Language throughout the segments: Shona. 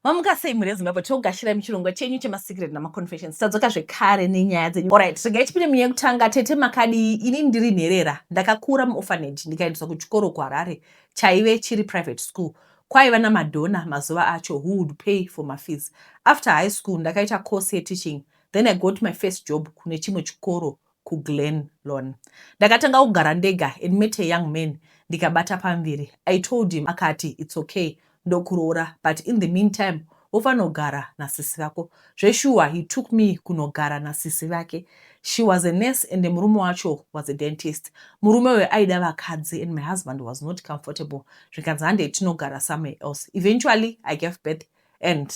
Mamuka sei mhuri yeZimbabwe togashira muchirongwa chenyu chemasecret namaconfessions tadzoka zvekare nenyaya dzenyu orit regai tipinde munyaya yekutanga tete makadii ini ndiri nherera ndakakura muorphanage ndikaendeswa kuchikoro kuharare chaive chiri private school kwaiva namadhona mazuva acho who would pay for mafees after high school ndakaita course yeteaching then i got my first job kune chimwe chikoro kuGlen Lorne. Ndakatanga kugara ndega and met a young man ndikabata pamviri. I told him akati it's okay ndokuroora but in the meantime wofanogara nasisi vako. Zveshuwa he took me kunogara nasisi vake. She was a nurse and murume wacho was a dentist. Murume uyo aida vakadzi and my husband was not comfortable zvikanzi handei tinogara somewhere else. Eventually I gave birth and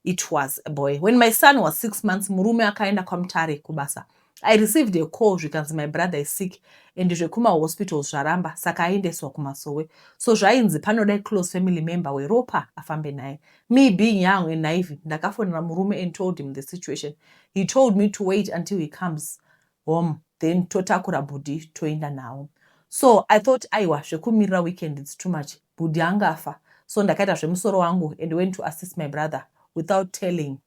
it was a boy when my son was six months murume akaenda kwamutare kubasa i received a call zvikanzi my brother is sick and zvekumahospitals zvaramba saka aendeswa kumasowe so zvainzi panoda close family member weropa afambe naye me being young and naive ndakafonera murume and told him the situation he told me to wait until he comes home then totakura bhudhi toenda nawo so i thought aiwa zvekumirira weekend its too much bhudhi angafa so ndakaita zvemusoro wangu and went to assist my brother without telling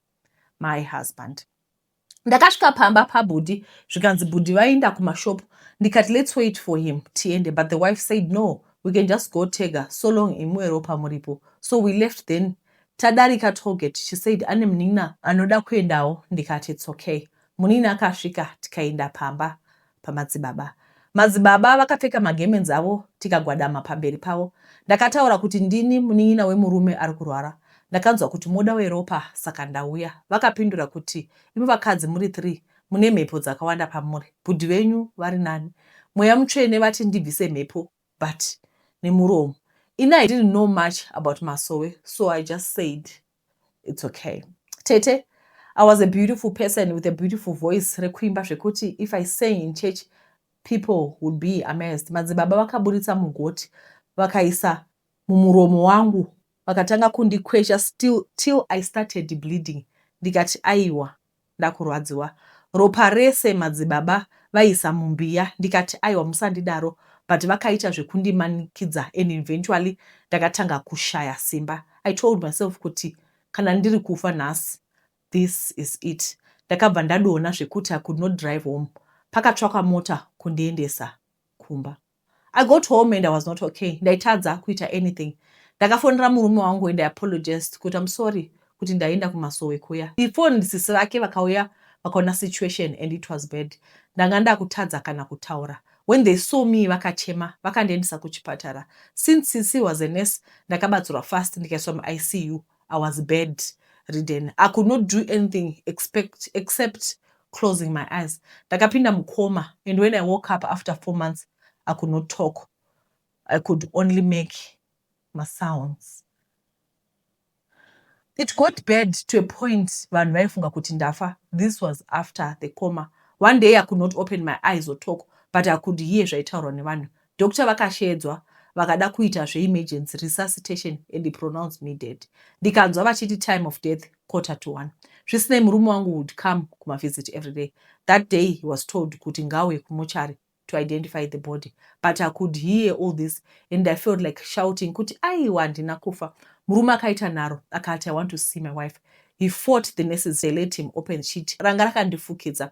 my husband ndakasvika pamba pabhudhi zvikanzi bhudhi vaenda kumashopu ndikati let's wait for him tiende but the wife said no we can just go tega so long imwe ropa muripo so we left then tadarika toget she said ane munin'ina anoda kuendawo ndikati its okay Munin'ina akasvika tikaenda pamba pamadzibaba. Madzibaba vakapfeka magemenzi avo tikagwadama pamberi pavo. Ndakataura kuti ndini munin'ina wemurume ari kurwara. Ndakanzwa kuti moda weropa saka ndauya. Vakapindura kuti imi vakadzi muri three mune mhepo dzakawanda pamuri. Bhudhi venyu vari nani. Mweya mutsvene vati ndibvise mhepo but nemuromo. Ini I didn't know much about masowe so I just said its okay tete i was a beautiful person with a beautiful voice rekuimba zvekuti if i sang in church people would be amazed madzibaba vakaburitsa mugoti vakaisa mumuromo wangu vakatanga kundikwesha still till i started bleeding ndikati aiwa ndakurwadziwa ropa rese madzibaba vaisa mumbiya ndikati aiwa musandidaro but vakaita zvekundimanikidza and eventually ndakatanga kushaya simba I told myself kuti kana ndiri kufa nhasi this is it ndakabva ndadona zvekuti I could not drive home pakatsvakwa mota kundiendesa kumba. I got home and I was not okay. Ndaitadza kuita anything. Ndakafonera murume wangu and I apologized kuti I'm sorry kuti ndaenda kumasowe kuya. He phoned sisi vake vakauya vakaona situation and it was bad. Ndanga ndakutadza kana kutaura. When they saw me vakachema vakandiendesa kuchipatara. Since sisi was a nurse ndakabatsirwa fast ndikaiswa muICU. I was bed ridden I could not do anything expect, except closing my eyes ndakapinda mucoma and when I woke up after four months I could not talk I could only make masounds it got bad to a point vanhu vaifunga kuti ndafa this was after the coma one day I could not open my eyes or talk but I could hear zvaitaurwa nevanhu Doctor vakasheedzwa vakada kuita zve emergency resuscitation and pronounce me dead ndikanzwa vachiti time of death quarter to one zvisinei murume wangu would come kumavisit every day that day he was told kuti ngauye kumochari to identify the body but i could hear all this and i felt like shouting kuti aiwa handina kufa murume akaita nharo akati i want to see my wife he fought the nurses they let him open sheet ranga rakandifukidza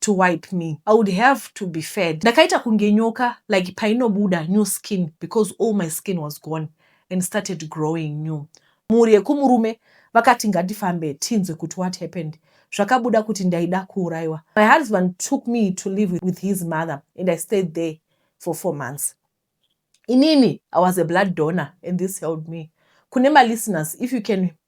to wipe me I would have to be fed ndakaita kunge nyoka like painobuda new skin because all my skin was gone and started growing new mhuri yekumurume vakati ngatifambe tinzwe kuti what happened zvakabuda kuti ndaida kuuraiwa my husband took me to live with his mother and I stayed there for four months inini I was a blood donor and this helped me kune malisteners if you can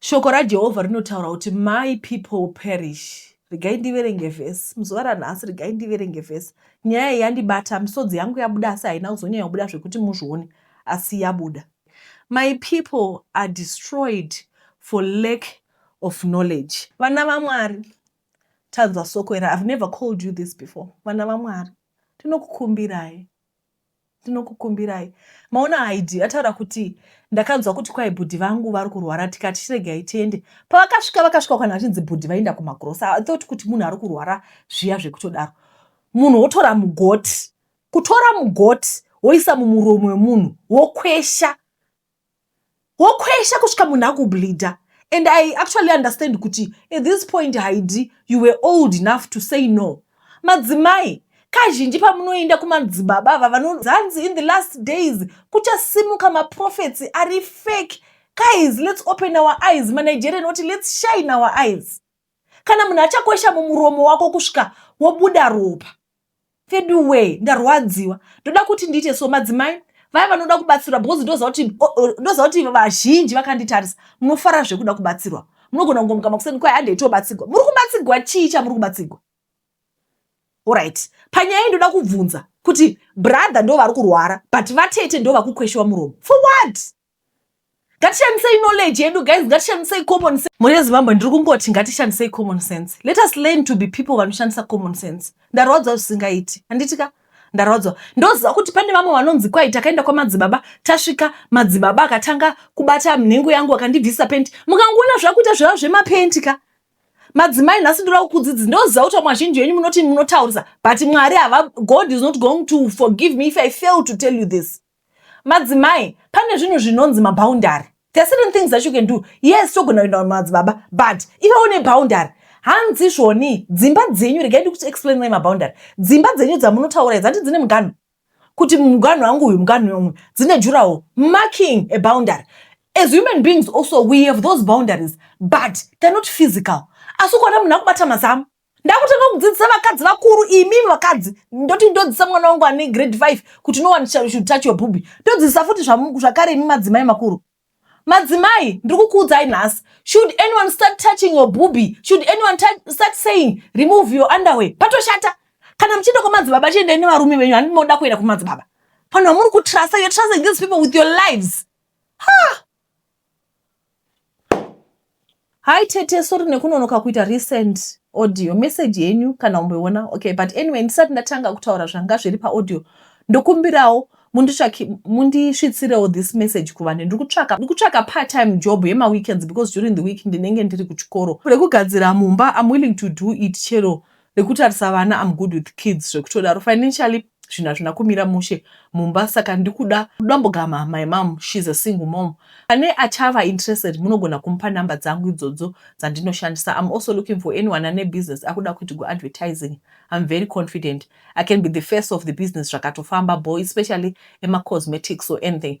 Shoko raJehovha rinotaura kuti my people perish. Regai ndiverenge vhesi muzuva ranhasi, regai ndiverenge vhesi. Nyaya iyi yandibata, misodzi yangu yabuda, asi haina kuzonyanya kubuda zvekuti muzvione, asi yabuda. My people are destroyed for lack of knowledge. Vana vaMwari, tanzwa soko iri. I've never called you this before. Vana vaMwari, tinokukumbirai. Ndinokukumbirai. Maona Haidhi ataura kuti ndakanzwa kuti kwai bhudhi vangu vari kurwara tikati chiregai tiende. Pavakasvika vakasvika kana vachinzi bhudhi vainda kumagrosa. I thought kuti munhu ari kurwara zviya zvekutodaro. Munhu wotora mugoti. Kutora mugoti woisa mumuromo wemunhu wokwesha. wokwesha kusvika munhu akubleeder and i actually understand kuti at this point haidi you were old enough to say no madzimai kazhinji pamunoenda kumadzibaba ava vanozanzi in the last days kuchasimuka maprofets ari fake guys let's open our eyes manigerian oti let's shine our eyes kana munhu achakwesha mumuromo wako kusvika wobuda ropa vedu wee ndarwadziwa ndoda kuti ndiite so madzimai vaya vanoda kubatsirwa because ndoziva kuti ndoziva kuti vazhinji vakanditarisa munofara zvekuda kubatsirwa munogona kungomuka makuseni kwai handei tobatsirwa muri kubatsirwa chii chamuri kubatsirwa orit panyaya iyi ndoda kubvunza kuti brother ndo vari kurwara but vatete ndo vakukweshewa muromo for what ngatishandisei knowledge yedu guys ngatishandisei common sense mhuri yezimbabwe ndiri kungoti ngatishandisei common sense let us learn to be people vanoshandisa common sense ndarwadzwa zvisingaiti handiti ka ndarwadzwa ndoziva kuti pane vamwe vanonzi kwai takaenda kwamadzibaba tasvika madzibaba akatanga kubata mnhengo yangu akandibvisa penti mukangoona zvakuita zveva zvemapenti ka madzimai nhasi ndoda kukudzidzi ndoziva kuti vamwe vazhinji venyu munoti munotaurisa but mwari hava god is not going to forgive me if i fail to tell you this Madzimai pane zvinhu zvinonzi maboundary. There are certain things that you can do. Yes, togona kuenda kumadzibaba but ivawo neboundary. Hanzi zvoni dzimba dzenyu regai ndikuti explain mai maboundary. Dzimba dzenyu dzamunotaura idzi hanti dzine muganhu kuti muganhu wangu uyu muganhu yomwe dzine jurawo marking a boundary. As human beings also we have those boundaries but they're not physical. Asi ukaona munhu akubata mazamu ndakutanga kudzidzisa vakadzi vakuru imimi vakadzi ndoti ndodzidzisa mwana wangu ane grade 5 kuti no one shall should touch your booby ndodzidzisa futi zvamu- zvakare imi madzimai makuru madzimai ndiri kukuudzai nhasi should anyone start touching your booby should anyone tou- start saying remove your underwear patoshata kana muchienda kwamadzibaba chiendai nevarume venyu handi moda kuenda kumadzibaba vanhu vamuri kutrasa you're trusting these people with your lives Hi tete, sorry nekunonoka kuita recent audio message yenyu kana umboiona. Okay, but anyway ndisati ndatanga kutaura zvanga zviri paaudio ndokumbirawo mundisvitsirewo this message kuvanhu ndiri kutsvaka ndiri kutsvaka part time job yemaweekends because during the week ndinenge ndiri kuchikoro rekugadzira mumba im willing to do it chero rekutarisa vana am good with kids zvekutodaro financially zvinhu hazvina kumira mushe mumba saka ndikuda dambogama my mom shes a single mom pane achava interested munogona kumupa number dzangu idzodzo dzandinoshandisa am also looking for anyone ane business akuda kuitigwa advertising am very confident i can be the first of the business zvakatofamba bo especially emacosmetics or anything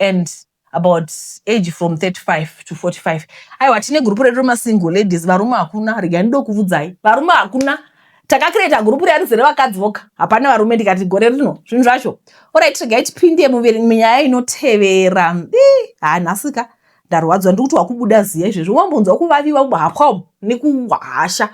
and about age from 35 to 45 aiwa tine gurupu redu remasingle ladies varume hakuna regai ndokuvudzai varume hakuna takakireta gurupu riya rizere vakadzi voka hapana varume ndikati gore rino zvinhu zvacho orit regai tipinde munyaya inotevera ha nhasika ndarwadziwa ndiri kuti wakubuda ziya izvezvi wambonzwa kuvaviwa kuhapwa umu nekuhasha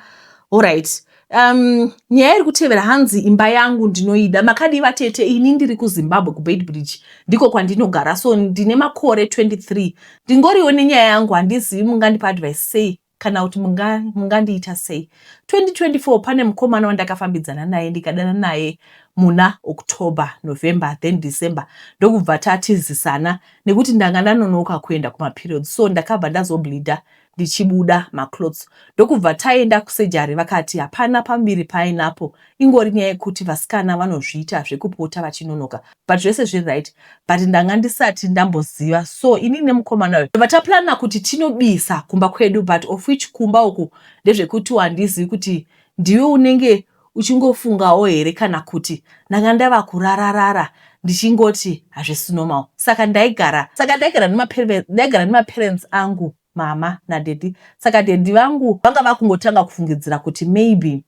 orit um, nyaya iri kutevera hanzi imba yangu ndinoida makadii vatete ini ndiri kuzimbabwe kubeitbridge ndiko kwandinogara so ndine makore 23 ndingoriwo nenyaya yangu handizivi mungandipa advice sei kana kuti mungandiita munga sei 2024 pane mukomana wandakafambidzana naye ndikadana naye muna october november then december ndokubva tatizisana nekuti ndanga ndanonoka kuenda kumaperiods so ndakabva ndazobleeder ndichibuda maclots ndokubva taenda kusejari vakati hapana pamuviri paainapo ingori nyaya yekuti vasikana vanozviita zvekupota vachinonoka but zvese zviri right but ndanga ndisati ndamboziva so inini nemukomana uyo tobva taplana kuti tinobisa kumba kwedu but of which kumba uku ndezvekuti wandizivi kuti ndiwe unenge uchingofungawo here kana kuti ndanga ndava kurararara ndichingoti hazvisi normal saka ndaigara saka ndaigara ndaigara nemaparents angu mama nadedi saka dedi vangu vanga vakungotanga kufungidzira kuti maybe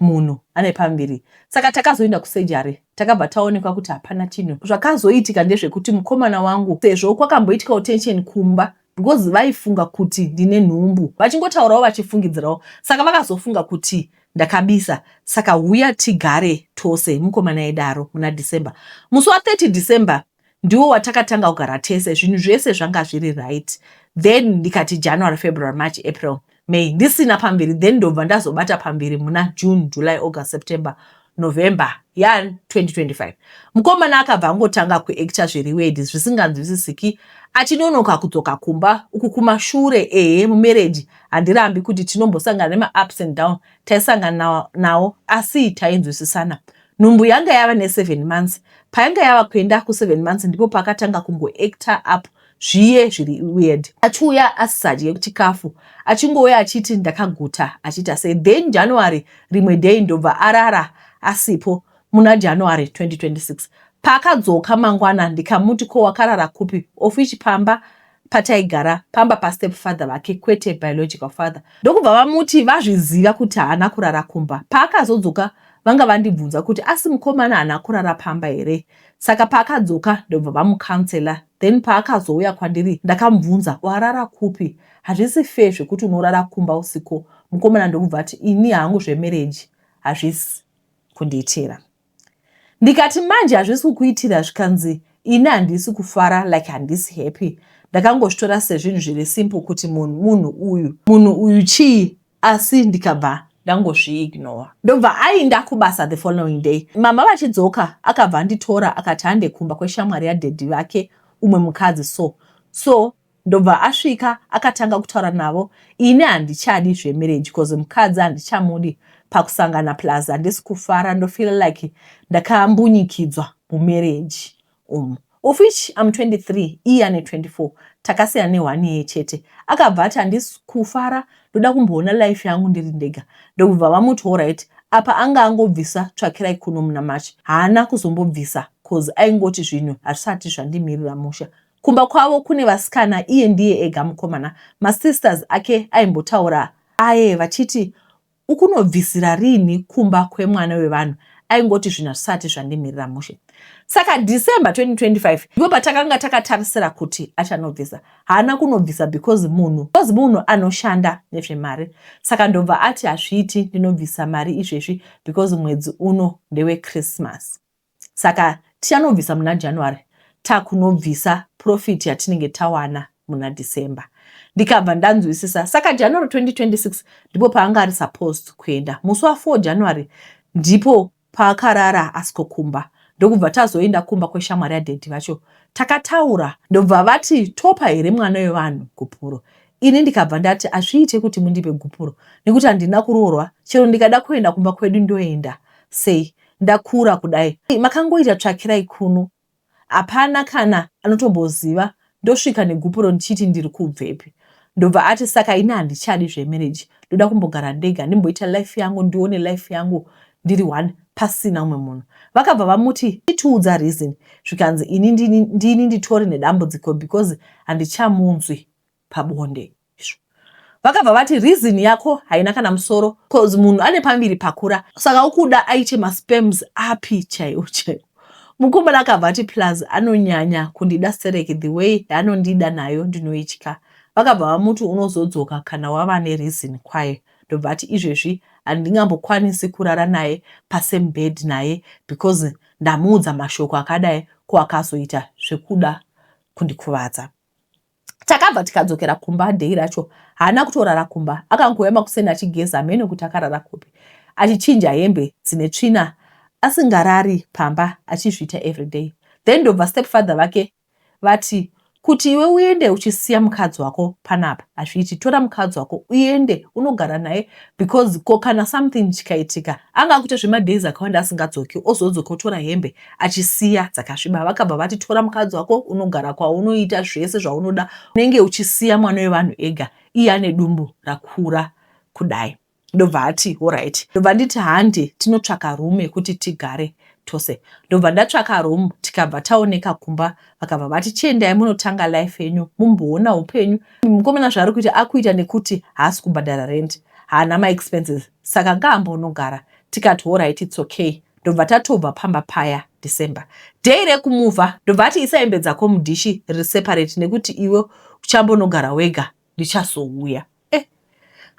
munhu ane pambiri saka takazoenda kusejari takabva taonekwa kuti hapana chinhu. Zvakazoitika ndezvekuti mukomana wangu sezvo kwakamboitikawo tension kumba because vaifunga kuti ndine nhumbu vachingotaurawo vachifungidzirawo saka vakazofunga kuti ndakabisa saka huya tigare tose mukomana aidaro muna December musi wa 30 December Ndiwo watakatanga kugara tese zvinhu zvese zvanga zviri right then ndikati January, February, March, April, May ndisina pamberi then ndobva ndazobata pamberi muna June, July, August, September, November ya 2025. Mukomana akabva angotanga kuactor zviri wedi zvisinganzwisisiki achinonoka kudzoka kumba uku kumashure ehe mumereji handirambi kuti tinombosangana nemaups and down taisangana nawo asi tainzwisisana Nhumbu yanga yava neseven months. Payanga yava kuenda kuseven months ndipo pakatanga kungoacta up zviye zviri weird. Achiuya asisadye chikafu achingouya achiti ndakaguta achiita sei then January rimwe day ndobva arara asipo muna January 2026. Paakadzoka mangwana ndikamuti ko wakarara kupi of which pamba pataigara pamba pastep father vake kwete biological father ndokubva vamuti vazviziva kuti haana kurara kumba paakazodzoka vanga vandibvunza kuti asi mukomana haana kurara pamba here saka paakadzoka ndobva vamucounsela then paakazouya kwandiri ndakamubvunza warara kupi hazvisi fair zvekuti unorara kumba usiko mukomana ndokubva ati ini hangu zvemereji hazvisi kundiitira ndikati manje hazvisi kukuitira zvikanzi ini handisi kufara like handisi happy ndakangozvitora sezvinhu zviri simple kuti munhu munhu uyu munhu uyu chii asi ndikabva ndangozviignora ndobva ainda kubasa the following day mama vachidzoka akabva anditora akati hande kumba kweshamwari yadhedhi vake umwe mukadzi so so Ndobva asvika akatanga kutaura navo ini handichadi zvemarriage cause mukadzi handichamudi pakusangana plus handisi kufara ndofeel like ndakambunyikidzwa mumarriage umu of which am 23 iye ane 24 takasiyana nehwani yeye chete akabva ati handisi kufara ndoda kumboona life yangu ndiri ndega ndokubva vamuti horit apa anga angobvisa tsvakirai kuno muna march haana kuzombobvisa cause aingoti zvinhu hazvisati zvandimirira musha Kumba kwavo kune vasikana iye ndiye ega mukomana. Masisters ake aimbotaura aye vachiti ukunobvisira rinhi kumba kwemwana wevanhu aingoti zvinhu hazvisati zvandimirira mushe saka december 2025 ndipo patakanga takatarisira kuti achanobvisa haana kunobvisa because munhu because munhu anoshanda nezvemari saka ndobva ati hazviiti ndinobvisa mari izvezvi because mwedzi uno ndewechristmas Saka tichanobvisa muna January takunobvisa profit yatinenge tawana muna December. Ndikabva ndanzwisisa saka January 2026 ndipo paanga ari supposed kuenda. Musi wa 4 January ndipo paakarara asikokumba ndokubva tazoenda kumba kweshamwari yadhedhi vacho takataura ndobva vati topa here mwana wevanhu gupuro ini ndikabva ndati azviite kuti mundipe gupuro nekuti handina kuroorwa chero ndikada kuenda kumba kwedu ndoenda sei ndakura kudai makangoita tsvakirai kuno hapana kana anotomboziva ndosvika negupuro ndichiti ndiri kubvepi ndobva ati saka ini handichadi zvemereji ndoda kumbogara ndega ndimboita life yangu ndione life yangu ndiri one pasina umwe munhu vakabva vamuti itiudza reason zvikanzi ini ndini nditori nedambudziko because handichamunzwi pabonde izvo vakabva vati reason yako haina kana musoro bcause munhu ane pambiri pakura saka ukuda aite maspems api chaiwo chaiwo mukomana akabva ati plus anonyanya kundida stereki the way yaanondida nayo ndinoitya vakabva vamuti unozodzoka kana wava nereason kwayo ndobva ati izvezvi handingambokwanisi kurara naye pasame bed naye because ndamuudza mashoko akadai ko akazoita zvekuda kundikuvadza takabva tikadzokera kumba dhei racho haana kutorara kumba akangouya makuseni achigeza hameno kuti akarara kupi achichinja hembe dzine tsvina asingarari pamba achizviita everyday then ndobva stepfather vake vati kuti iwe uende uchisiya mukadzi wako panapa hazviiti tora mukadzi wako uende unogara naye because ko kana something chikaitika anga akute zvemadays akawanda asingadzoki ozodzoka otora hembe achisiya dzakasviba vakabva vati tora mukadzi wako unogara kwaunoita zvese zvaunoda unenge uchisiya mwana wevanhu ega iye ane dumbu rakura kudai ndobva ati horit ndobva nditi handi tinotsvaka rume kuti tigare tose ndobva ndatsvaka room tikabva taoneka kumba vakabva vati chiendai munotanga life yenyu mumboona upenyu mukomana zvaari kuita akuita nekuti haasi kubhadhara rent haana maexpenses saka ngaambonogara tikati horit its okay ndobva tatobva pamba paya December day rekumuvha ndobva ati isa hembe dzako mudhishi riri separate nekuti iwe uchambonogara wega ndichazouya eh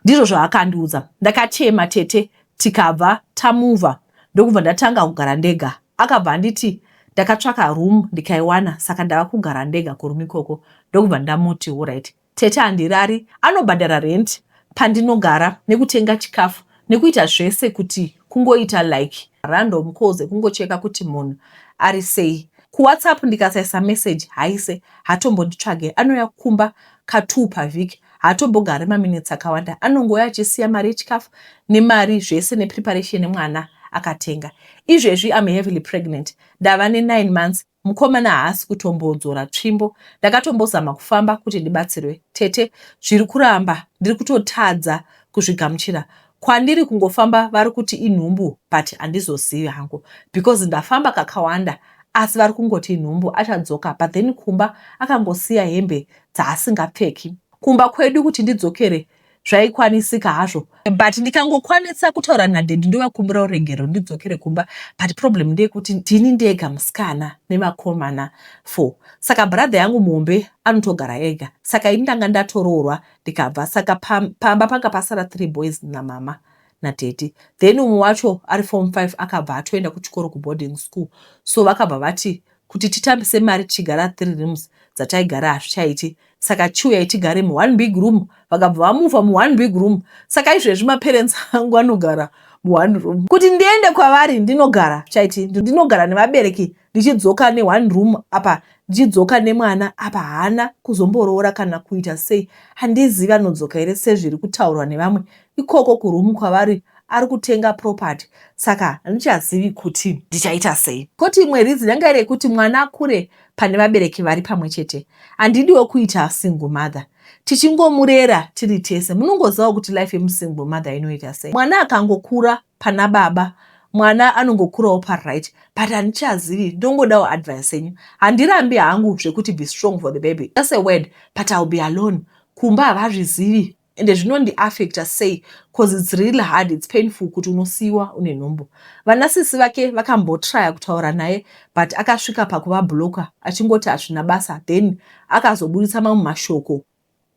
ndizvo zvaakandiudza ndakachema tete tikabva tamuvha ndokubva ndatanga kugara ndega akabva anditi ndakatsvaka room ndikaiwana saka ndava kugara ndega kurume ikoko ndokubva ndamuti horaiti Tete handirari anobhadhara rent pandinogara nekutenga chikafu nekuita zvese kuti kungoita like random calls ekungocheka kuti munhu ari sei. KuWhatsApp ndikasaisa message haise haatombonditsvage anouya kumba ka two pavhiki haatombogari maminutes akawanda anongouya achisiya mari yechikafu nemari zvese nepreparation yemwana akatenga. Izvezvi I'm heavily pregnant ndava ne nine months. Mukomana haasi kutombodzora tsvimbo. Ndakatombozama kufamba kuti ndibatsirwe. Tete, zviri kuramba. Ndiri kutotadza kuzvigamuchira. Kwandiri kungofamba vari kuti inhumbu but handizozivi hangu because ndafamba kakawanda asi vari kungoti inhumbu achadzoka but then kumba akangosiya hembe dzaasingapfeki. Kumba kwedu kuti ndidzokere zvaikwanisika hazvo but ndikangokwanisa kutaura nadedi ndovakumbira urengero ndidzokere kumba but problem ndeyekuti ndini ndega musikana nevakomana four saka brother yangu muhombe anotogara ega saka ini ndanga ndatoroorwa ndikabva saka pamba panga pasara three boys namama nadedi then umwe wacho ari form five akabva atoenda kuchikoro kuboarding school so vakabva vati Kuti titambise mari tichigara three rooms dzataigara hazvichaiti saka chiuyai tigare mu one big room vakabva vamuva mu one big room saka izvezvi ma parents angu anogara mu one room kuti ndiende kwavari ndinogara chaiti ndinogara nevabereki ndichidzoka ne one room apa ndichidzoka nemwana apa haana kuzomboroora kana kuita sei handizivi anodzoka here sezviri kutaurwa nevamwe ikoko kuroom kwavari ari kutenga property saka handichazivi kuti ndichaita sei koti imwe reason yanga iri yekuti mwana akure pane vabereki vari pamwe chete handidiwo kuita single mother tichingomurera tiri tese munongozivawo kuti life yemusingle mother inoita sei mwana akangokura pana baba mwana anongokurawo paright but handichazivi ndongodawo advice yenyu handirambi hangu zvekuti be strong for the baby just a word but ill be alone kumba havazvizivi Ende zvinondi affecta sei coz it's real hard it's painful kuti unosiiwa une nhumbu. Vana sisi vake vakambotryer kutaura naye but akasvika pakuva blocker achingoti hazvina basa then akazoburitsa mamwe mashoko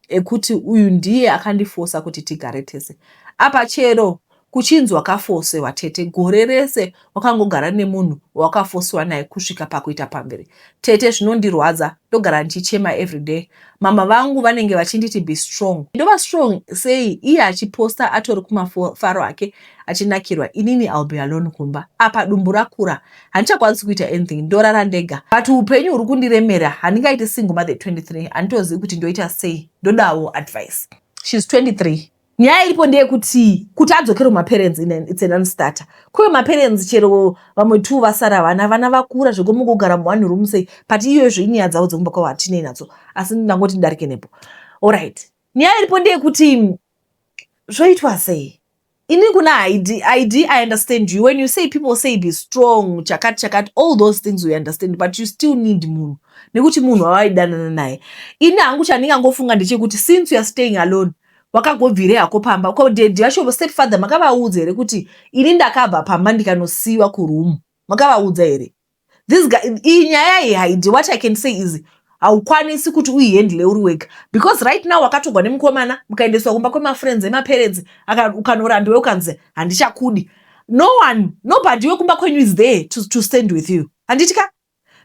ekuti uyu ndiye akandifosa kuti tigare tese apa chero Kuchinzi wakafosiwa tete gore rese wakangogara nemunhu wawakafosiwa naye kusvika pakuita pamberi. Tete zvinondirwadza ndogara ndichichema everyday. Mhamha vangu vanenge vachinditi be strong. Ndova strong sei iye achiposta atori kumafaro ake achinakirwa inini I'll be alone kumba. Apa dumbu rakura handichakwanisi kuita anything ndorara ndega. But upenyu huri kundiremera handingaiti single mother 23 handitozivi kuti ndoita sei ndodawo advice. She's 23 nyaya iripo ndeyekuti kuti adzokere kumaparents its an unstarter kuve maparents chero vamwe two vasara vana vana vakura zvekomukugara muone room sei but iyoyozvo inyaya dzavo dzekumba kwavo hatinei nadzo asi ndangoti ndidarike nepo allright nyaya iripo ndeyekuti zvoitwa sei ini kuna id id i understand you when you say people say be strong chakati chakati all those things we understand but you still need munhu nekuti munhu wavaidanana naye ini hangu chandingangofunga ndechekuti since youare staying alone wakagobvirei hako pamba ko daddy vacho step father makavaudza here kuti ini ndakabva pamba ndikanosiiwa kuroom makavaudza here this guy iyi nyaya iyi haidi what i can say is haukwanisi kuti uihandle uri wega because right now wakatogwa nemukomana mukaendeswa kumba kwemafriends emaparents ukanorandiwe ukanzi handichakudi no one nobody wekumba kwenyu is there to, to stand with you handiti ka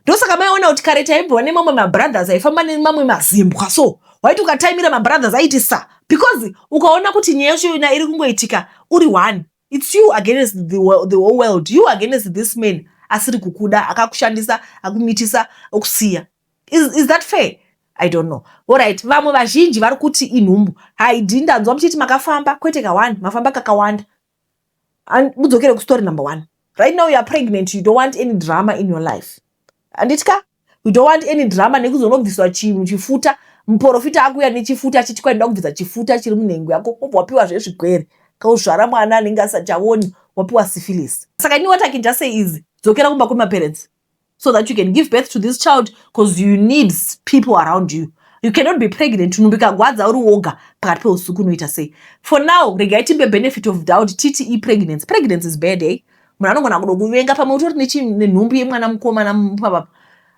ndosaka maiona kuti kare taimbova nemamwe mabrothers aifamba nemamwe mazimbwa so waiti ukataimira mabrothers aiti sa because ukaona kuti nyaya yacho yona iri kungoitika uri one its you against the, the whole world you against this man asiri kukuda akakushandisa akumitisa okusiya is, is that fair i don't know orit vamwe vazhinji vari kuti inhumbu haidi ndanzwa muchiti makafamba kwete kawani mafamba kakawanda And mudzokere kustory number one. Right now you are pregnant, you don't want any drama in your life. Anditi ka? You don't want any drama nekuzonobviswa chinhu chifuta. Muporofita akuya nechifuta achiti kwaenda kubvisa chifuta chiri munhengo yako. Obva wapiwa zvezvigwere. Kauzvara mwana anenge asati aoni wapiwa syphilis. Saka ini what I can just say is dzokera kumba kwemaparents. so that you can give birth to this child because you need people around you you cannot be pregnant nhumbu ikagwadza uri woga pakati peusiku unoita sei for now regai tipe benefit of doubt titi ipregnancy pregnancy is bad eh? munhu anogona kudo kuvenga pamwe utori nenhumbu yemwana mukomana papa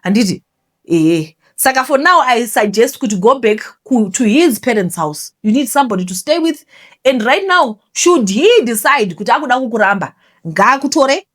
handiti ehe saka for now i suggest kuti go back ku, to his parents house you need somebody to stay with and right now should he decide kuti akuda kukuramba ngaakutore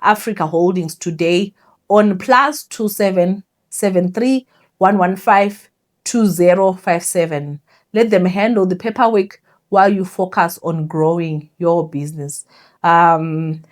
Africa Holdings today on plus 27 73 115 2057. Let them handle the paperwork while you focus on growing your business. Um,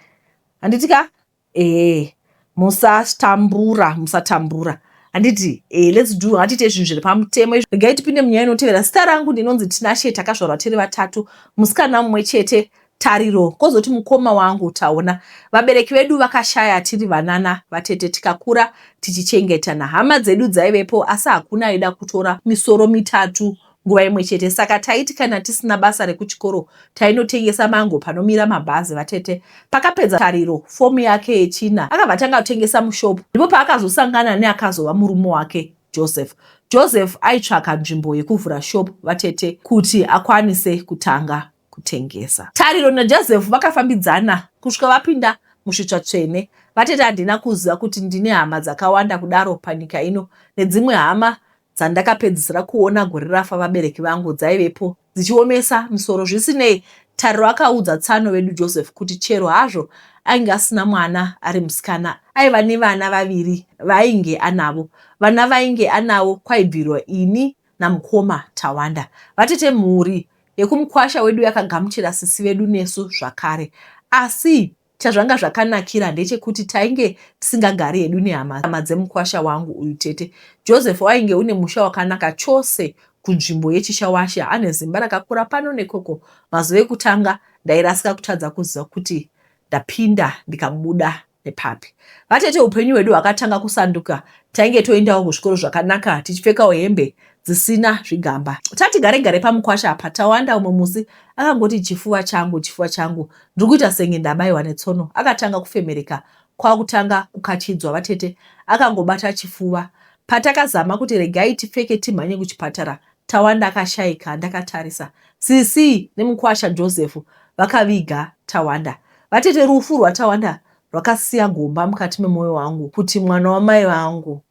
anditika eh, musatambura musatambura handiti eh, let's do hatiite zvinhu zviri pamutemo izvo regai tipinde munyaya inotevera zita rangu ndinonzi tinashe takazvarwa tiri vatatu musikana mumwe chete Tariro, kozoti mukoma wangu Taona. Vabereki vedu vakashaya tiri vanana vatete tikakura ticichengetana. Hama dzedu dzaivepo asi hakuna aida kutora misoro mitatu nguva imwe chete saka taiti kana tisina basa rekuchikoro tainotengesa mango panomira mabhazi vatete pakapedza tariro fomu yake yechina akabva atanga kutengesa mushopu ndipo paakazosangana neakazova murume wake joseph joseph aitsvaka nzvimbo yekuvhura shopu vatete kuti akwanise kutanga kutengesa. Tariro naJoseph vakafambidzana kusvika vapinda musvitsva tsvene. Vatete handina kuziva kuti ndine hama dzakawanda kudaro panyika ino nedzimwe hama dzandakapedzisira kuona gore rafa vabereki vangu dzaivepo dzichiomesa misoro. Zvisinei, Tariro akaudza tsano vedu Joseph kuti chero hazvo ainge asina mwana ari musikana aiva nevana vaviri vaainge anavo. Vana vainge anavo kwaibvirwa ini namukoma Tawanda vatete mhuri yekumukwasha wedu yakagamuchira sisi vedu nesu zvakare asi chazvanga zvakanakira ndechekuti tainge tisingagari hedu nehama dzemukwasha wangu uyu tete Joseph wainge une musha wakanaka chose kunzvimbo yechishawashe ane zimba rakakura pano nekoko mazuva ekutanga ndairasika kutadza kuziva kuti ndapinda ndikabuda nepapi. Vatete upenyu hwedu hwakatanga kusanduka tainge toendawo kuzvikoro zvakanaka tichipfekawo hembe dzisina zvigamba. Tati gare gare pamukwasha apa Tawanda umwe musi akangoti chifuva changu chifuva changu ndiri kuita senge ndabaiwa netsono. Akatanga kufemereka kwakutanga kukachidzwa vatete akangobata chifuva. Patakazama kuti regai tipfeke timhanye kuchipatara Tawanda akashaika ndakatarisa sisi nemukwasha Joseph vakaviga Tawanda. Vatete rufu rwaTawanda rwakasiya gomba mukati memoyo wangu kuti mwana wamai vangu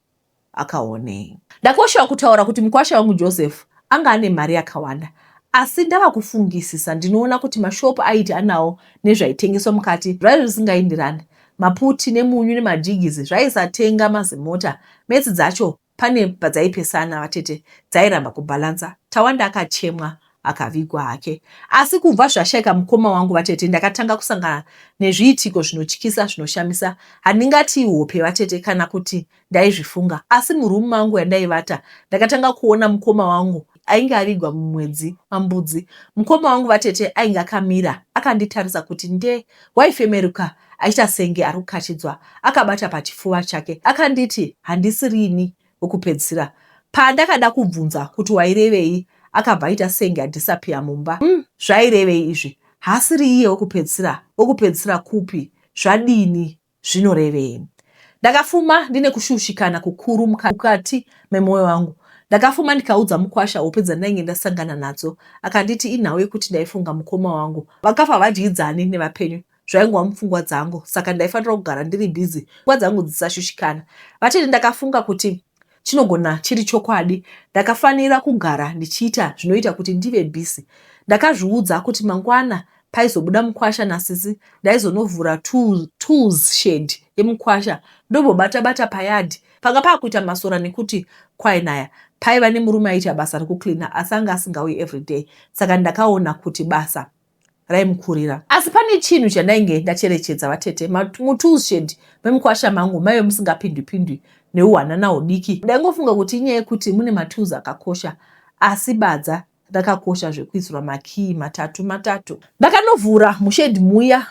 akaonei. Ndakoshewa kutaura kuti mukwasha wangu Joseph anga ane mari yakawanda asi ndava kufungisisa ndinoona kuti mashopu aiti anawo nezvaitengeswa mukati zvaive zvisingaindirani maputi nemunyu nemajigizi zvaisatenga mazimota metsi dzacho Pane padzaipesana vatete dzairamba kubalancer Tawanda akachemwa akavigwa hake. Asi kubva zvashaika mukoma wangu vatete ndakatanga kusangana nezviitiko zvinotyisa zvinoshamisa. Handingati ihope vatete kana kuti ndaizvifunga asi muroom mangu yandaivata ndakatanga kuona mukoma wangu Ainge avigwa mumwedzi waMbudzi. Mukoma wangu vatete ainge akamira akanditarisa kuti nde, waifemeruka achiita senge ari kukachidzwa akabata pachifuva chake. Akanditi handisi rini wekupedzisira. Pandakada kubvunza kuti wairevei akabva aita senge adhisapiya mumba. Umm zvairevei izvi? Haasiri iye wekupedzisira? Wekupedzisira kupi? Zvadini? zvinorevei? Ndakafuma ndine kushushikana kukuru mukati memwoyo wangu. Ndakafuma ndikaudza mukwasha hope dzandainge ndasangana nadzo. Akanditi inhau yekuti ndaifunga mukoma wangu. Vakafa havadyidzani nevapenyu zvaingova mupfungwa dzangu saka ndaifanira kugara ndiri busy pfungwa dzangu dzisashushikana. Vatete ndakafunga kuti Chinogona chiri chokwadi. Ndakafanira kugara ndichiita zvinoita kuti ndive busy. Ndakazviudza kuti mangwana paizobuda mukwasha nasisi ndaizonovhura tools shed yemukwasha ndobobata bata payard. Panga pakuita masora nekuti kwainaya. Paiva nemurume aiita basa rekucleaner asi anga asingauyi everyday saka ndakaona kuti basa raimukurira asi pane chinhu chandainge ndacherechedza vatete mutoolshed memukwasha mangu maive musingapindwipindwi neuhwanana hudiki ndaingofunga kuti inyaya yekuti mune matools akakosha asi badza rakakosha zvekuisirwa makii matatu matatu ndakanovhura mushedi muya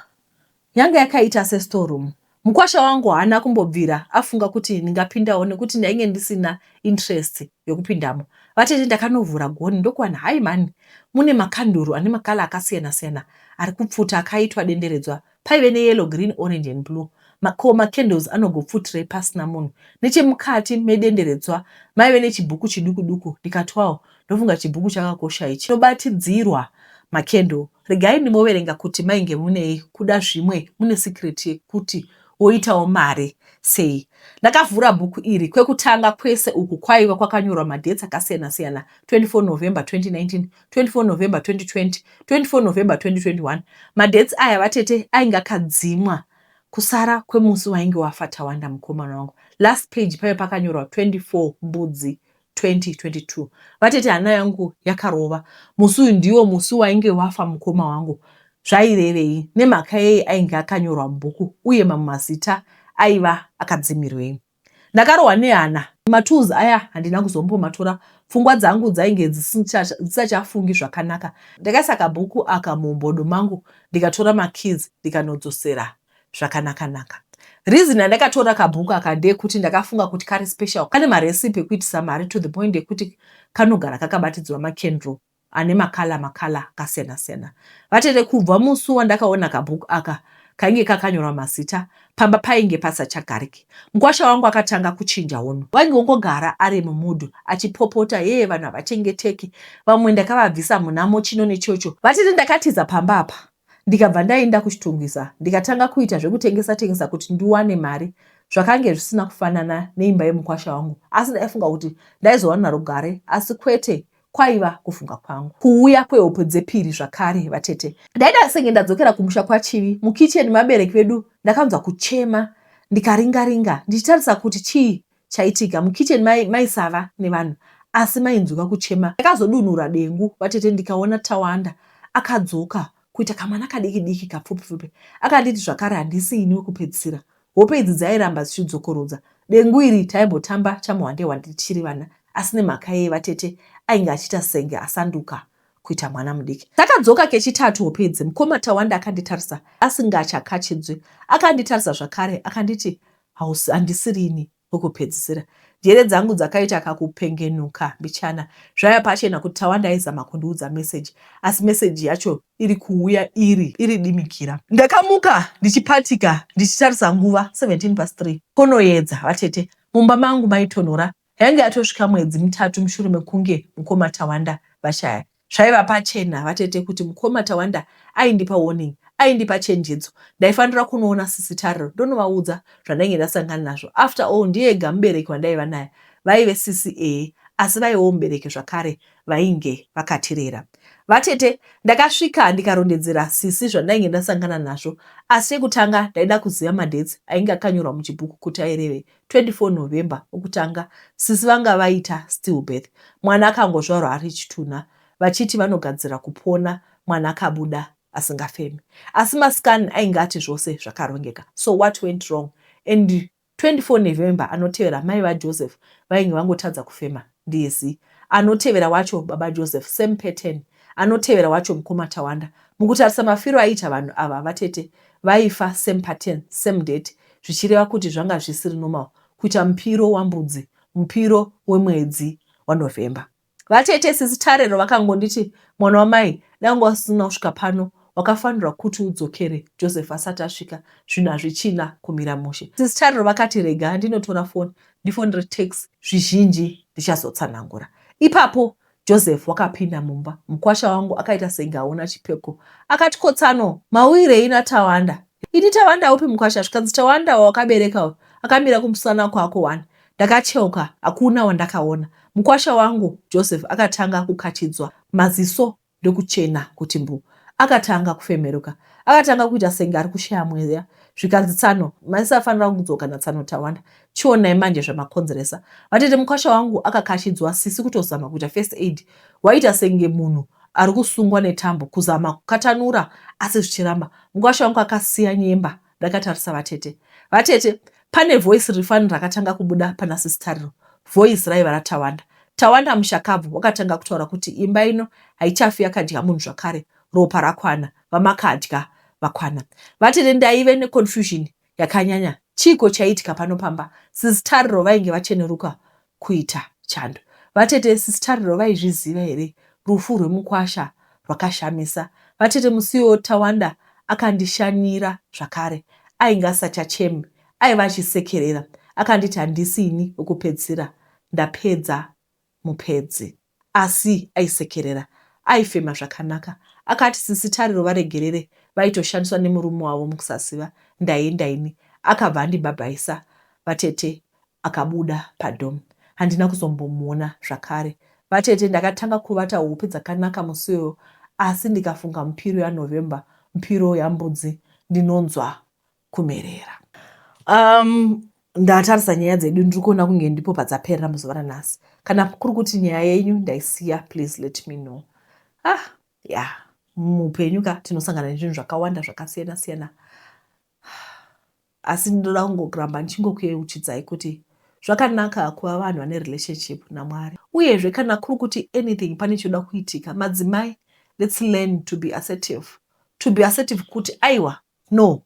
Yanga yakaita sestore room. Mukwasha wangu haana kumbobvira afunga kuti ndingapindawo nekuti ndainge ndisina interest yokupindamo. Vatete ndakanovhura gonhi ndokuwana hayi mhani mune makanduru ane makala akasiyana siyana ari kupfuta akaitwa denderedzwa. Paive neyellow, green, orange and blue. Ma, ko macandles anogopfutirei pasina munhu? Nechemukati medenderedzwa maive nechibhuku chiduku duku ndikatwawo ndofunga chibhuku chakakosha ichi chinobatidzirwa makendo regai ndimoverenga kuti mainge munei kuda zvimwe mune secret yekuti woitawo mari sei ndakavhura bhuku iri kwekutanga kwese uku kwaiva kwakanyorwa madheti akasiyana siyana 24 november 2019 24 november 2020 24 november 2021 madheti aya vatete ainge akadzimwa kusara kwemusi wainge wafa tawanda mukomana wangu last page paive pakanyorwa 24 mbudzi 2022 vatete hana yangu yakarova musi uyu ndiwo musi wainge wafa mukoma wangu zvairevei nemhaka yei ainge akanyorwa mubhuku uye mamwe mazita aiva akadzimirwei ndakarohwa nehana matools aya handina kuzombomatora pfungwa dzangu dzainge dzisachafungi zvakanaka ndakaisa kabhuku aka mumbodo mangu ndikatora makeys ndikanodzosera zvakanaka naka reason yandakatora kabhuku aka ndeyekuti ndakafunga kuti kari special kane marecipe ekuitisa mari to the point yekuti kanogara kakabatidzwa macandle ane makala makala akasiyana siyana vatete kubva musi wandakaona kabhuku aka kainge kakanyorwa mazita pamba painge pasachagariki mukwasha wangu akatanga kuchinja hono wainge wongogara ari mumudhu achipopota yee vanhu havachengeteki vamwe ndakavabvisa munamo chino nechocho vatete ndakatiza pamba apa ndikabva ndainda kuchitungwiza ndikatanga kuita zvekutengesa tengesa kuti ndiwane mari zvakange zvisina kufanana neimba yemukwasha wangu asi ndaifunga kuti ndaizowana rugare asi kwete kwaiva kufunga kwangu kuuya kwehope dzepiri zvakare vatete ndaida senge ndadzokera kumusha kwachivi mukicheni mabereki vedu ndakanzwa kuchema ndikaringaringa ndichitarisa kuti chii chaitika mukitchen mai maisava nevanhu asi mainzwika kuchema ndakazodunura dengu vatete ndikaona tawanda akadzoka kuita kamwana kadiki diki kapfupi pfupi akanditi zvakare handisi ini wekupedzisira hope idzi dzairamba dzichidzokorodza dengu iri taimbotamba chamuhwandehwande tichiri vana asi nemhaka yeye vatete ainge achiita senge asanduka kuita mwana mudiki takadzoka kechitatu hope idzi mukoma tawanda akanditarisa asingachakachidzwi akanditarisa zvakare akanditi Hausi handisiri ini wekupedzisira. Njere dzangu dzakaita kakupengenuka mbichana. Zvaiva pachena kuti Tawanda aizama kundiudza meseji asi meseji yacho iri kuuya iri iri dimikira. Ndakamuka ndichipatika ndichitarisa nguva 17 past 3. Konoyedza vatete. Mumba mangu maitonhora Yainge yatosvika mwedzi mitatu mushure mekunge mukoma Tawanda vashaya. Zvaiva pachena vatete kuti mukoma Tawanda aindipa warning, aindipa chenjedzo. Ndaifanira kunoona sisi Tariro ndonovaudza zvandainge ndasangana nazvo. After all ndiye ega mubereki wandaiva naye. Vaive sisi ehe asi vaivewo mubereki zvakare vainge vakatirera. Vatete ndakasvika ndikarondedzera sisi zvandainge ndasangana nazvo asi chekutanga ndaida kuziva madates ainge akanyorwa muchibhuku kuti airevei. 24 November okutanga sisi vanga vaita still birth mwana akangozvarwa ari chitunha vachiti vanogadzira kupona mwana akabuda asingafeme asi mascan ainge ati zvose zvakarongeka so what went wrong and 24 November anotevera mai vaJoseph vainge vangotadza kufema Ndizi. Anotevera wacho baba Joseph same pattern. Anotevera wacho mukoma Tawanda. Mukutarisa mafiro aiita vanhu ava vatete vaifa same pattern same date zvichireva kuti zvanga zvisiri normal kuita mupiro wambudzi mupiro wemwedzi waNovember. Vatete sisi Tariro vakangonditi mwana wamai dai wanga usina kusvika pano wakafanirwa kuti udzokere Joseph asati asvika zvinhu hazvichina kumira mushe. Sisi Tariro vakati rega ndinotora foni Ndifonere Tex zvizhinji ndichazotsanangura. Ipapo Joseph wakapinda mumba. Mukwasha wangu akaita senge aona chipeko. Akati, Kotsano, mauirei naTawanda? Ini Tawanda upi mukwasha? Zvikanzi Tawanda wawakabereka uyu akamira kumusana kwako wani. Ndakacheuka, hakuna wandakaona. Mukwasha wangu Joseph akatanga kukachidzwa maziso ndokuchena kuti mbu. Akatanga kufemeruka. Akatanga kuita senge ari kushaya mweya zvikanzi tsano maisa afanira kudzoka natsano tawanda chionai manje zvamakonzeresa vatete mukwasha wangu akakashidzwa sisi kutozama kuita first aid waita senge munhu ari kusungwa netambo kuzama kukatanura asi zvichiramba mukwasha wangu akasiya nyemba ndakatarisa vatete vatete pane voice rifani rakatanga kubuda pana sisitariro voice raiva ratawanda tawanda mushakabvu wakatanga kutaura kuti imba ino haichafi yakadya munhu zvakare ropa rakwana vamakadya vakwana vatete ndaive neconfusion yakanyanya chiiko chaiitika pano pamba sisitariro vainge vacheneruka kuita chando. Vatete sisi Tariro vaizviziva here rufu rwemukwasha rwakashamisa. Vatete musiwo Tawanda akandishanyira zvakare ainge asachacheme aiva achisekerera akanditi handisi ini wekupedzisira ndapedza mupedzii. asi aisekerera aifema zvakanaka akati sisi Tariro varegerere vaitoshandiswa nemurume wavo mukusaziva ndaienda ini akabva andibhabhaisa vatete akabuda padom handina kuzombomuona zvakare vatete ndakatanga kuvata hope dzakanaka musi iyoyo asi ndikafunga mupiro yaNovember mupiro yambudzi ndinonzwa kumerera um, ndatarisa nyaya dzedu ndiri kuona kunge ndipo padzaperera muzuva ranhasi kana kuri kuti nyaya yenyu ndaisiya please let me know ah ya muupenyu ka tinosangana nezvinhu zvakawanda zvakasiyana siyana asi ndinoda kungoramba ndichingokuyeuchidzai kuti zvakanaka kuva vanhu vane relationship namwari uyezve kana kuri kuti anything pane chinoda kuitika madzimai let's learn to be assertive to be assertive kuti aiwa No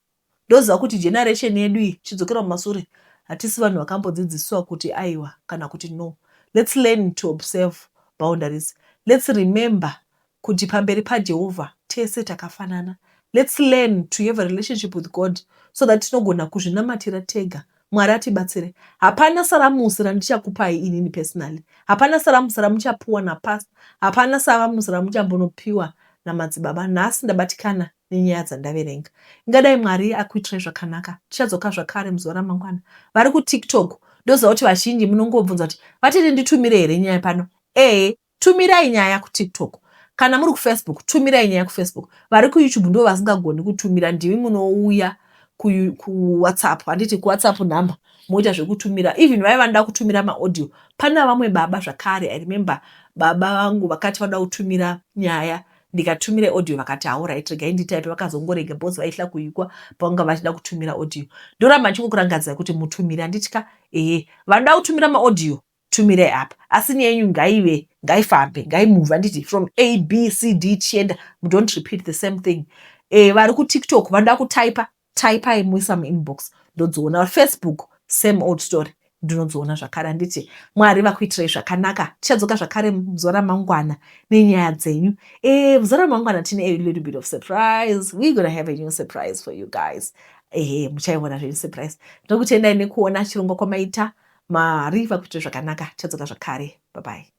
ndoziva kuti generation yedu iyi chidzokera kumasure hatisi vanhu vakambodzidziswa kuti aiwa kana kuti no let's learn to observe boundaries let's remember kuti pamberi paJehovha tese takafanana let's learn to have a relationship with God so that tinogona kuzvinamatira tega Mwari atibatsire hapana saramusi randichakupai inini personally hapana saramusi ramuchapuwa napastor hapana saramusi ramuchambonopiwa namadzibaba nhasi ndabatikana nenyaya dzandaverenga. Ingadai Mwari akuitirai zvakanaka. Tichadzoka zvakare muzuva ramangwana. Vari kuTiktok ndoziva kuti vazhinji munongobvunza kuti vatete nditumire here nyaya pano. Ehe, tumirai nyaya kuTiktok. Kana muri kuFacebook, tumirai nyaya kuFacebook. Vari kuYouTube ndivo vasingagoni kutumira, ndimi munouya kuwhatsapp handiti kuwhatsapp number moita zvekutumira even vaive vanoda kutumira maaudio pana vamwe baba zvakare i remember baba vangu vakati vanoda kutumira nyaya ndikatumira audio vakati haurit regai nditaipe vakazongorega bos vaihla kuikwa pavanga vachida kutumira audio ndoramba ndichingokurangadzira kuti mutumire handiti ka ehe vanoda kutumira maaudio tumirai apa asi nyaya yenyu ngaive ngaifambe ngaimove handiti from a b c d tichienda mudont repeat the same thing e, vari kutiktok vanoda kutaipa typai muisa muinbox ndodziona facebook same old story ndinodziona zvakare handiti mwari vakuitirai zvakanaka tichadzoka zvakare muzuva ramangwana nenyaya dzenyu e eh, muzuva ramangwana tine a little bit of surprise we gonna have a new surprise for you guys ehe muchaiona zvenyu surprise ndokutendai nekuona chirongwa kwamaita mari vakuitira zvakanaka tichadzoka zvakare babai